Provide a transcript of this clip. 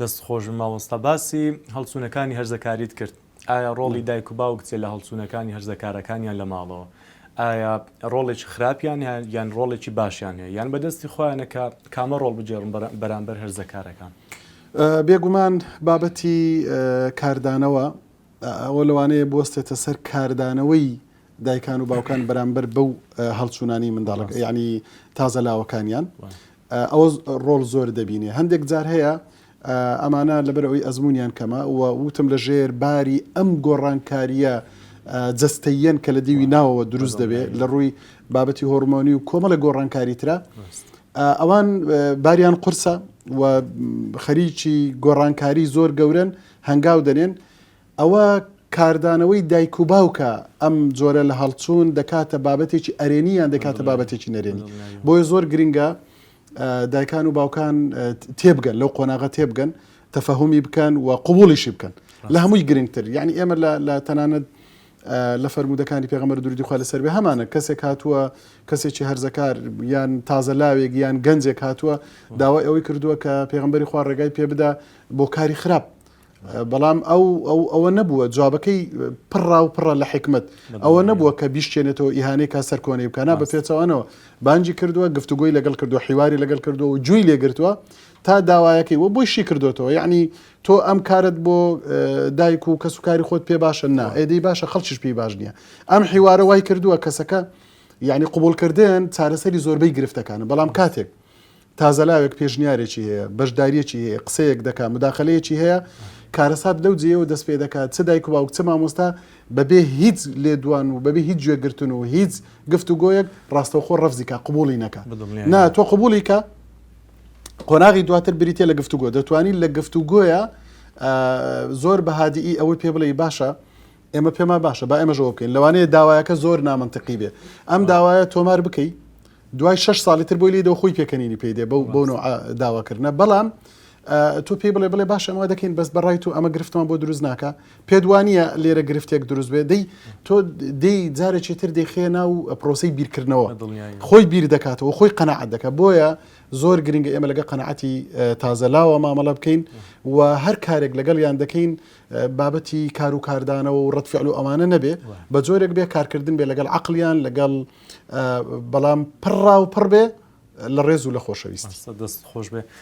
دەست خۆش بن مامۆستا باسی هەڵچونەکانی هەرزەکاریت کرد ئایا ڕۆڵی دایک و باوک چیە لە هەڵچونەکانی هەرزەکارەکانیان لە ماڵەوە ئایا ڕۆڵێکی خراپیان هەیە یان ڕۆڵێکی باشیان هەیە یان بەدەستی خۆیانە کە کامە ڕۆڵ بگێڕن بەرامبەر هەرزەکارەکان؟ بێگومان بابەتی کاردانەوە ئەوە لەوانەیە بوەستێتە سەر کاردانەوەی دایکان و باوکان بەرامبەر بەو هەڵچوونانی منداڵەکە یعنی تازە لاوەکانیان ئەوە ڕۆڵ زۆر دەبینێ هەندێک جار هەیە ئەمانە لەبەر ئەوی ئەزممویان کەمە و وتم لە ژێر باری ئەم گۆڕانکاریە جستەیەن کە لە دیوی ناوەوە دروست دەبێت لە ڕووی بابەتی هۆرمۆنی و کۆمەڵە گۆڕانکاری ترە ئەوان باریان قرسە و خەریکی گۆڕانکاری زۆر گەورن هەنگاو دەنێن ئەوە کاردانەوەی دایک و باوکە ئەم جۆرە لە هەڵچوون دەکاتە بابەتێکی ئەرێنی یان دەکاتە بابەتێکی نەرێنی بۆیە زۆر گرنگە دایکان و باوکان تێبگەن لەو قۆناغە تێبگەن تەفەهمی بکەن و قوبولیشی بکەن لە هەمووی گرنگتر یعنی ئێمە لە تەنانەت لە فەرمودەکانی پێغەمەر دووری خوا لەسەر بێ هەمانە کەسێک هاتووە کەسێکی هەرزەکار یان تازە لاوێک یان گەنجێک هاتووە داوای ئەوەی کردووە کە پێغمبەری خوا ڕێگای پێ بدا بۆ کاری خراپ بەڵام ئەو ئەوە نەبووە جوابەکەی پڕا و پڕە لە حکمت ئەوە نەبووە کە بیشتێنێتەوە ئیهانەی کا سەر کۆنەی بکەنا بە پێچەوانەوە بانجی کردووە گفتوگوۆی لەگەڵ کردو حیواری لەگەڵ کردو و جوی لێگرتووە تا داوایەکەی وە بۆی شی کردوێتەوە یعنی تۆ ئەم کارت بۆ دایک و کەس و کاری خۆت پێ باشە نا ئێدەی باشە خەڵکیش پێی باش نییە ئەم حیوارە وای کردووە کەسەکە یعنی قوبولکردن چارەسەری زۆربەی گرفتەکانە بەڵام کاتێک تازەلاوێک پێشنیارێکی هەیە، بەشدارییەکی هەیە، قسەیەک دەکات، موداخەلەیەکی هەیە، کارەسات لەو جێیەوە دەست پێ دەکات، چ دایک و باوک، چ مامۆستا بەبێ هیچ لێدوان و بەبێ هیچ گوێگرتن و هیچ گفتوگۆیەک ڕاستەوخۆ ڕەفزی کا، قبووڵی نەکا. نا، تۆ قبووڵی کە، قۆناغی دواتر بریتییە لە گفتوگۆ. دەتوانی لە گفتوگۆیە زۆر بە هادیی ئەوەی پێ بڵێی باشە، ئێمە پێمان باشە با ئێمەش ئەوە بکەین، لەوانەیە داوایەکە زۆر نامەنتقی بێ، ئەم داوایە تۆمار بکەی دوای شەش ساڵی تر بۆی لێ دەو خۆی پێکەنینی پێی دێ بەو بۆ نوع داواکردە بەڵام تۆ پێی بڵێ بڵێ باش ئەمە دەکەین بەس بەڕای تو ئەمە گرفتمان بۆ دروست ناکە پێدوانە لێرە گرفتێک دروست بێ دەی تۆ دی جارێکی تر دەیخێ ناو پرۆسی بیرکردنەوە خۆی بیر دەکاتەوە خۆی قەنەعات دەکە بۆیە زۆر گرنگە ئێمە لەگە قەنەعەتی تازەلاوە مامەڵە بکەین و هەر کارێک لەگەڵ یان دەکەین بابەتی کار و کاردانەوە و ڕەد فعل و ئەوانە نەبێ بە جۆرێک بێ کارکردن بێ لەگەڵ عقلیان لەگەڵ بەڵام پڕڕا و پڕ بێ لە ڕێز و لە خۆشەویست دەست خۆش بێ.